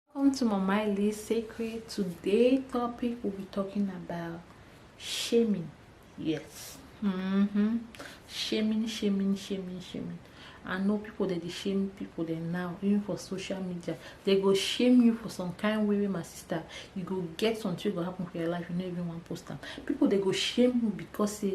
welcome to mama lee secret today topic we'll be talking about shaming yes mm-hmm. shaming shaming shaming shaming i know people that they shame people dem now even for social media they go shame you for some kind way my sister you go get something go happen for your life you no even wan post am people they go shame you because say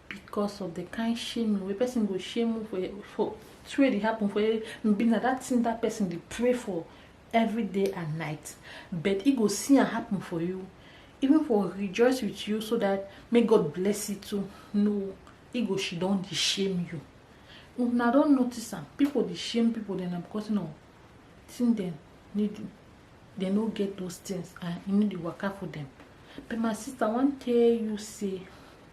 because of the kind shaming wey person go shame you for for thing wey dey happen for you be na that thing that person dey pray for every day and night but e go see am happen for you even for rejoice with you so that make god bless you too no e go she don dey shame you una don notice am people dey shame people dem na because no thing dem need dem no get those things and e no dey waka for dem but my sister i wan tell you say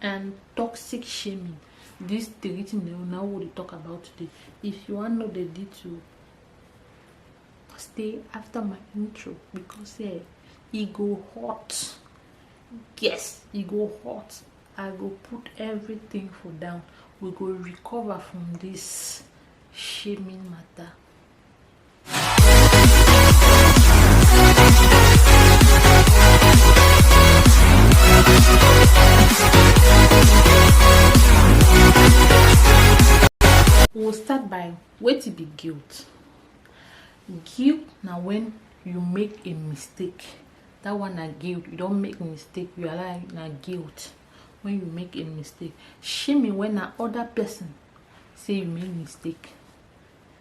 and toxic shaming these three things na una we dey talk about today if you wan know the detail stay after my intro because eh e go hot yes e go hot i go put everything for down we go recover from this shaming matter we will start by wetin be guilt guilt na when you make a mistake that one na guilt you don make mistake you allow na guilt when you make a mistake shame when na other person say you make mistake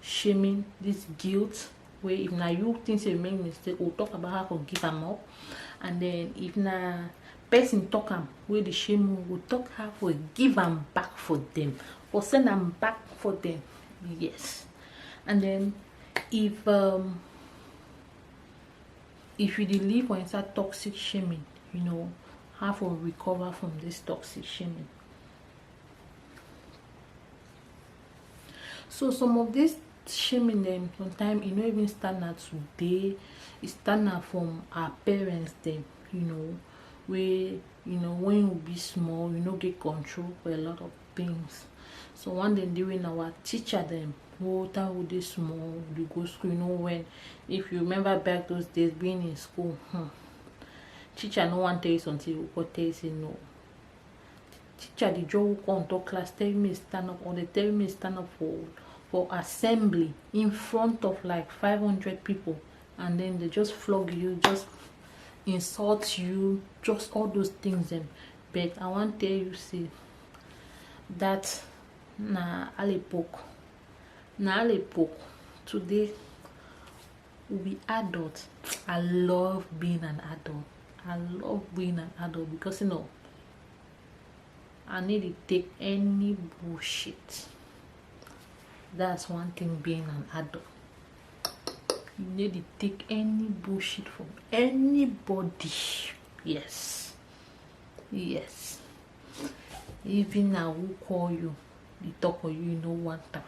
shaming this guilt where if now you think you make mistake or talk about how to give them up and then if now person talk them where the shame will talk how to give them back for them or send them back for them yes and then if um if you live or inside toxic shaming you know how to recover from this toxic shaming so some of this shaming them sometimes e no even stand na today e stand na from our parents dem you know wey you know when you be small you no get control for a lot of things so one day dey when our teacher dem whole time we dey small we go school you know when if you remember back those days being in school hmm, teacher no wan tell you something you go tell you say no teacher dey join come on top class tell me stand up or dey tell me stand up for for assembly in front of like 500 people and then they just flog you just insult you just all those things them but i wan tell you see that na alepok na alepok today we'll be adults i love being an adult i love being an adult because you know i need to take any bullshit that's one thing being an adult you need to take any bullshit from anybody yes yes even now who call you the talk of you no one time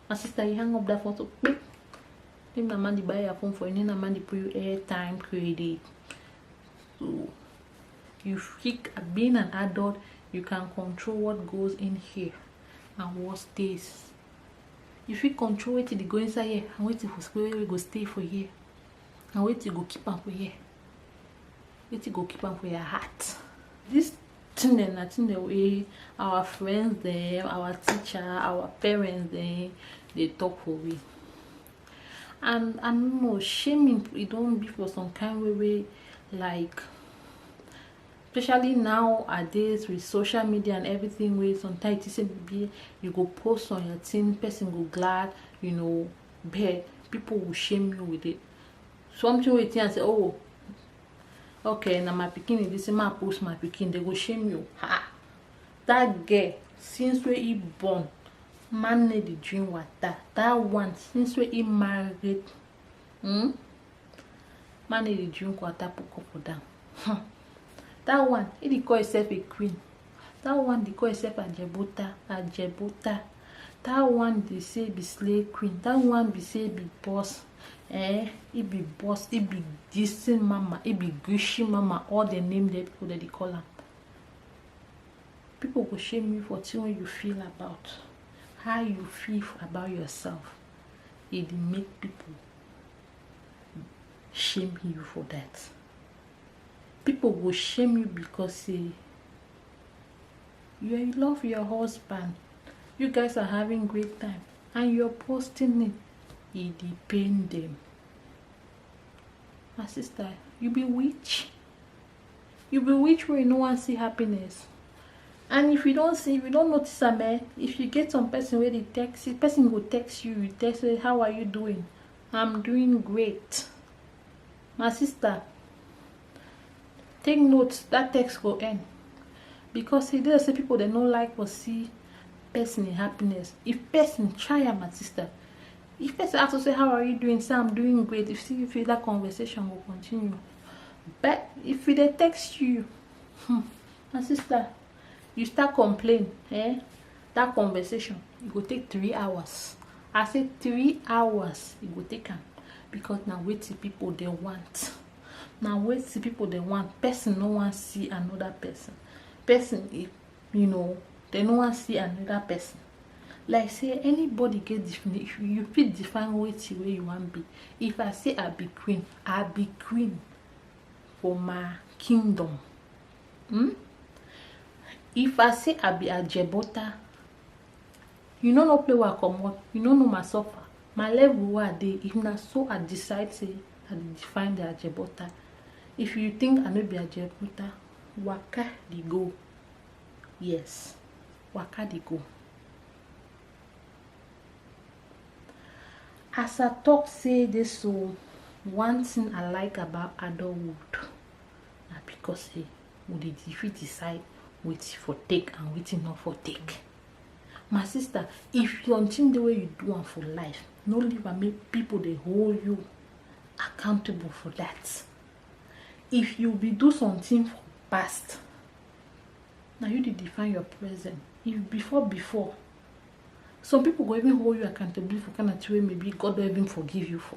my sister you hang up that photo if na man dey buy your phone for you na man dey put you airtime credit so you freak being an adult you can control what goes in here and what stays you fit control wetin dey go inside here and wetin go stay for here and wetin go keep am for here wetin go keep am for your heart this thing na thing wey our friends dem our teacher our parents dem dey talk for we and i no know shaming e don be for some kind way wey like especially now nowadays with social media and everything wey sometimes you say be you go post on your thing person go glad you know but people will shame you with it something wey you think say oh okay na my pikin e be say ma post my pikin they go shame you ha that girl since wey he born man need the drink water that one since wey he married hmm? man need the drink water put couple down hmm. that one he dey call himself a queen that one dey call herself ajebota ajebota that one dey say be slay queen that one be say be boss eh e be boss e be gisting mama e be gushi mama all the name that people that dey call am people go shame you for thing wey you feel about how you feel about yourself e dey make people shame you for that people go shame you because say you love your husband you guys are having great time and you're posting it e dey pain them my sister you be witch you be witch wey you no wan see happiness and if you don't see if you don't notice am eh if you get some person where they text you person go text you you text say how are you doing i'm doing great my sister take note that text go end because e dey say people dem no like to see person in happiness if person try am my sister if person ask you say how are you doing say i'm doing great if you feel that conversation will continue but if they text you hmm, my sister you start complain eh that conversation e go take three hours i say three hours e go take am because na wetin people dey want na wetin people dey want person no wan see another person person e you know they no wan see another person like say anybody get definition you fit define wetin wey you wan be if i say i be queen i be queen for my kingdom Hmm? If I say I be Ajebota, you no know play where I comot, you no know my suffer. My level wey I dey, if na so I decide say I dey define the Ajebota. If you think I no be Ajebota, waka dey go. Yes, waka dey go. As I talk say this so, one thing I like about adulthood na because say we dey fit decide wetin for take and wetin no for take my sister if your thing the way you do am for life no leave am make people dey hold you accountable for that if you be do something for past na you dey define your present if before before some people go even hold you accountable for kind of thing wey maybe god don even forgive you for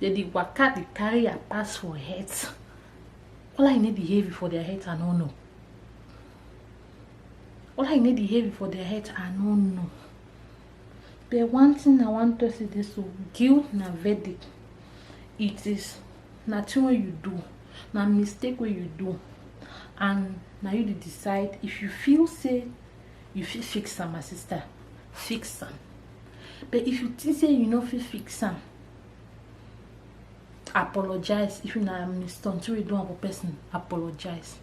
dem dey waka dey carry her pass for head all i need the heavy for their head i no know all i need the heavy for their head i no know the one thing i wan talk is this o guilt na verdict it is na thing wey you do na mistake wey you do and na you dey decide if you feel say you fit fix am my sister fix am but if you think say you no fit fix am apologize if na mistunt wey you do am for person apologize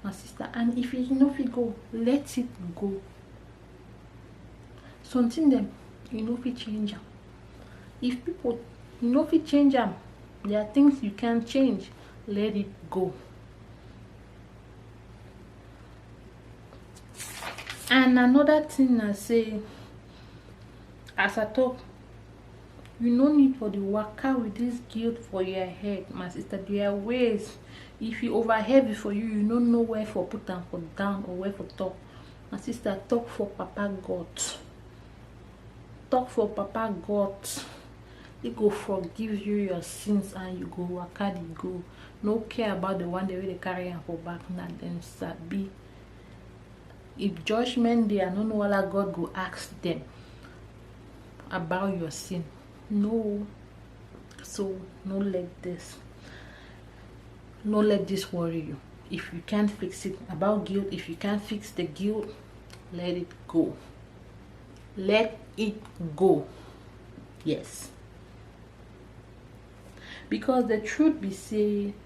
my sister and if you no fit go let it go something dem you no fit change am if people you no fit change am there are things you can change let it go and another thing na say as i talk you no need for the waka with this guilt for your head my sister there are ways if you over heavy for you you no know where for put am for down or where for talk my sister talk for papa god talk for papa god he go forgive you your sins and you go waka the go no care about the one that really carry am for back na dem sabi if judgment dey i no know wala god go ask them about your sin no so no let this no let this worry you if you can't fix it about guilt if you can't fix the guilt let it go let it go yes because the truth be say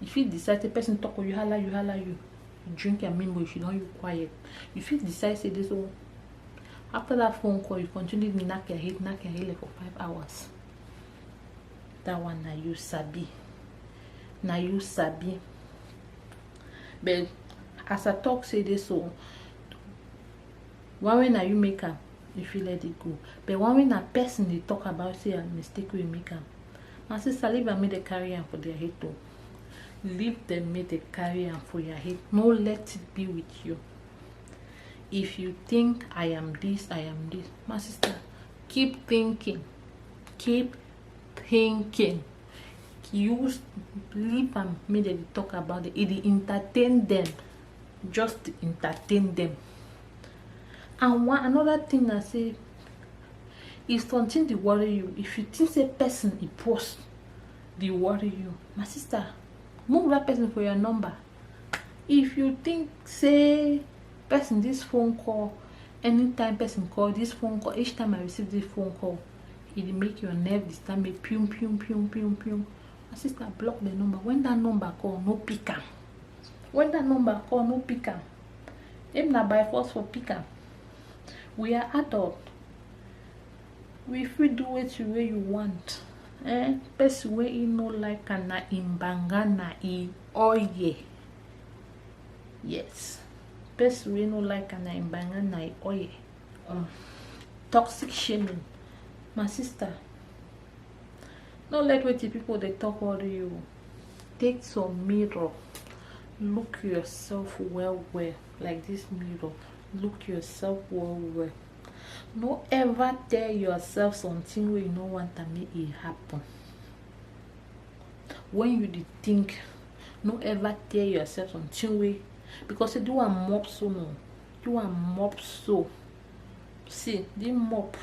you fit decide say person talk you hala you hala you you drink your mimbo if you don you quiet you fit decide say this one after that phone call you continue to knack your head knack your head like for five hours that one na you sabi na you sabi but as i talk say this so one way na you make am you fit let it go but one way na person dey talk about say i mistake wey make am my sister leave am make dem carry am for their head o leave dem make dem carry am for your head no let it be with you if you think i am this i am this my sister keep thinking keep thinking use leave am make dem talk about it e dey entertain dem just entertain dem and one another thing na say if something dey worry you if you think say person dey post dey worry you my sister move that person for your number if you think say person this phone call anytime person call this phone call each time i receive this phone call e dey make your nerve disturb me pium pium pium pium pium my sister block the number when that number call no pick am when that number call no pick am If na by force for pick am. We are adult. We fit do wetin wey you want. Eh, person wey e no like am na im banga na e oye. Yes. Person wey no like am na im banga na e oye. Um, toxic shaming. My sister, no let wetin people dey talk worry you. take some mirror look yourself well well like this mirror look yourself well well no ever tell yourself something wey you no want am make e happen when you dey think no ever tell yourself something wey because you do am mop so no do am mop so see the mop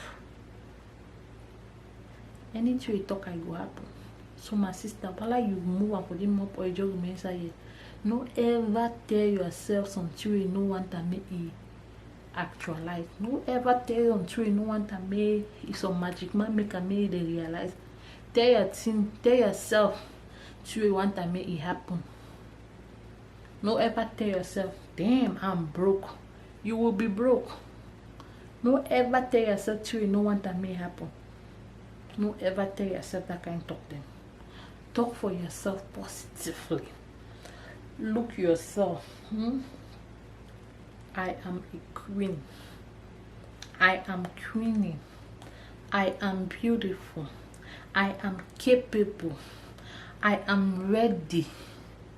anything you talk i go happen so my sister whether you move am for the mop or you just remain inside here no ever tell yourself something you no want am make e actualize no ever tell your something you no want am make e some magic man make am make e dey realize tell your thing tell yourself something you want am make e happen no ever tell yourself damn i'm broke you will be broke no ever tell yourself till you know what that may happen no ever tell yourself that kind of talk then talk for yourself positively look yourself hmm? i am a queen i am queenie i am beautiful i am capable i am ready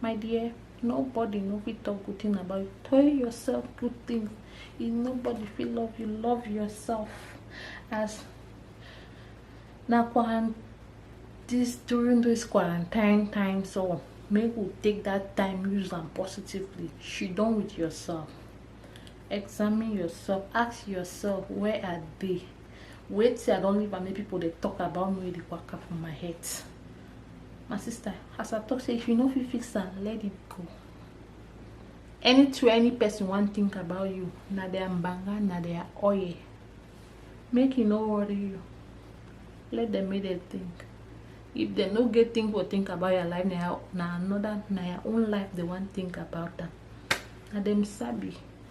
my dear nobody no fit talk good thing about you tell yourself good things if nobody feel love you love yourself as na quarantine this during this quarantine time so make we take that time use them positively she done with yourself examine yourself ask yourself where are they wait till i don't leave and make people they talk about me they work up for my head my sister as i talk say if you no fit fix am let it go anything any person wan think about you na their mbanga na their oil make e no worry you let them make them think if they no get think or think about your life na na another na your own life they wan think about am na them sabi